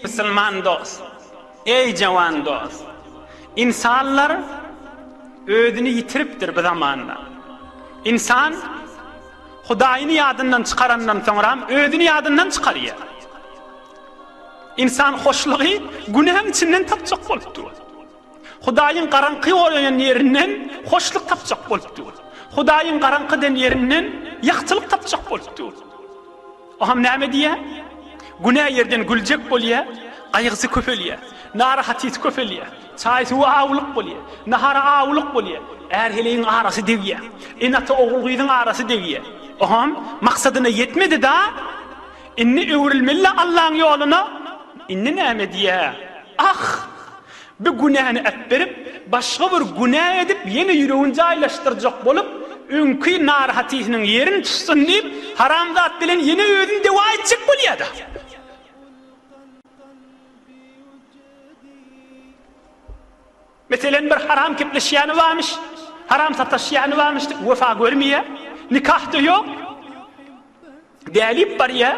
Musulman dost, eý jawan dost, ynsanlar özüni ýitiripdir bu zamanda. Ynsan Hudaýyny ýadyndan çykarandan soňram özüni ýadyndan çykarýar. Ynsan hoşlugy günäň içinden tapjak bolupdy ol. Hudaýyň garaňky goýan ýerinden hoşluk tapjak bolupdy ol. Hudaýyň garaňky eden ýerinden ýagtylyk tapjak bolupdy ol. Oňam näme diýýär? Günä ýerden güljek bolýar, gaýgysy köpelýär, narahatysy köpelýär, çaý-suwa awulyk bolýar, nahara awulyk bolýar, är-heleýiň arasy degýär, ene-ata ogul-gyzyň arasy degýär. Oňam maksadyna ýetmedi-da. Indi öwrülmeli-le Allaň ýoluna. Indi näme diýä? Ah! Bir günäni ätberip, başga bir günä edip, ýene ýüregini jaýlaşdyrjak bolup, öňki narahatysynyň ýerin tutsun diýip, haramzat bilen ýene özüni dewa etjek bolýa-da. Meselem, bir haram kepleşýäni barmyş, haram sataşýany barmyş diýip, wepa görmeýär, nikah-da ýok. Bäbip barýar,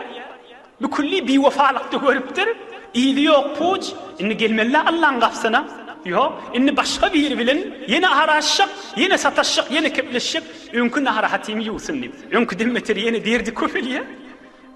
bikülli biwepalykda görüpdir, yzy ýok puç, indi gelmeli-dä Allaň gapysyna. Ýok, indi başga biri bilen ýene aralaşjak, ýene sataşjak, ýene kepleşjek, öňki narahatymy ýuwsyn diýip. Öňküden beter ýene derdi köpelýär.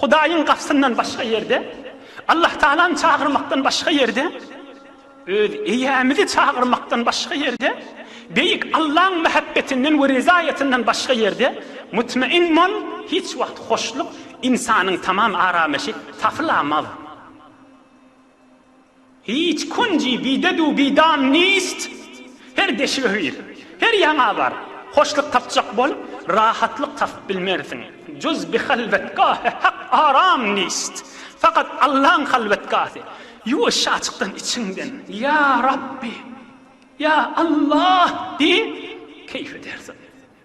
Hudaýyň gapysyndan başga ýerde, Allahtagalany çagyrmakdan başga ýerde, öz Eýämizi çagyrmakdan başga ýerde, Beýik Allaň mähebbetinden we rezaýatyndan başga ýerde, mutmain bol, hiç wagt hoşluk, ynsanyň tamam aramaşy tapylamaz. Hiç kunji bidedu bidan nist. Her deşige gir, her ýaňa bar, hoşluk tapjak bol, rahatlyk tapyp bilmersiň. Juz bi halwetgahä hak aram nist. Fakat Allaň halwetgasy, ýuwaşja açykdan içiňden, Ýa Rabbi! Ýa Allah! diýiň, keýf edersiň.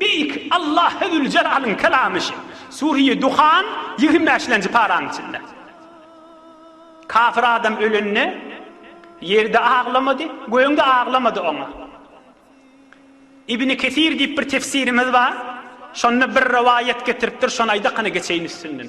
Beýik Allahü Züljelalyň kelamy şu, Sûreýi Duhan, ýigrimi bäşlenji paraň içinde. Kafir adam ölende, ýer-de aglamady, göň-de aglamady oňa. Ibni Kesir diýip bir tefsirimiz bar, şonda bir rowaýat getiripdir, şony aýdakyny geçeýin üstünden.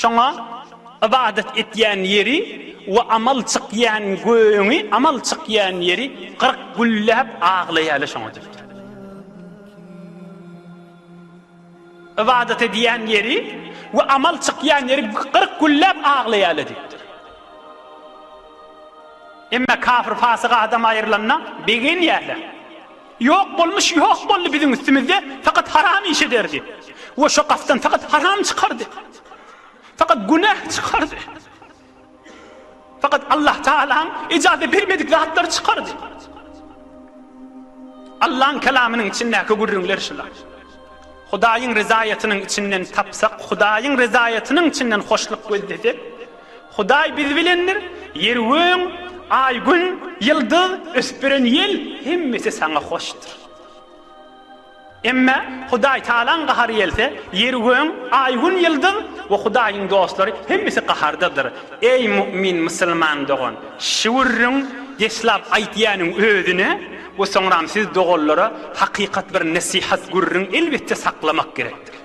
Şoňa ybadat etýän ýeri we amal çykýan göğüňi, amal çykýan ýeri gyryk gülläp aglaýaly şoňa diýipdir. Ybadat edýän ýeri we amal çykýan ýeri gyryk gülläp aglaýaly diýipdir. Emma kafir-pasyk adam aýrylanda begenýärler. Ýok bolmuş ýok boldy biziň üstümizde fakat haram iş ederdi we şo gapdan fakat haram çykardy. Fakat günah çykardy. Fakat Allah Taalaň ejaze bermedik zatlary çykardy. Allaň kelamynyň içindäki gürrüňler şular. Hudaýyň rezaýatynyň içinden tapsak, Hudaýyň rezaýatynyň içinden hoşluk gözlesek, Hudaý biz bilendir, Ýer-göň, Aý-Gün, Ýyldyz, ösüp beren ýel, hemmesi Saňa hoşdur. Emma Hudaý Tagalaň gahary gelse, Ýer-göň, Aý-Gün, Ýyldyz we Hudaýyň dostlary hemmesi gahardadyr. Eý mu'min musulman dogan! Şüwürriň deslap aýtýanyň özüne we soňram siz doganlara hakykat bir nesihat gürriň elbetde saklamak gerekdir.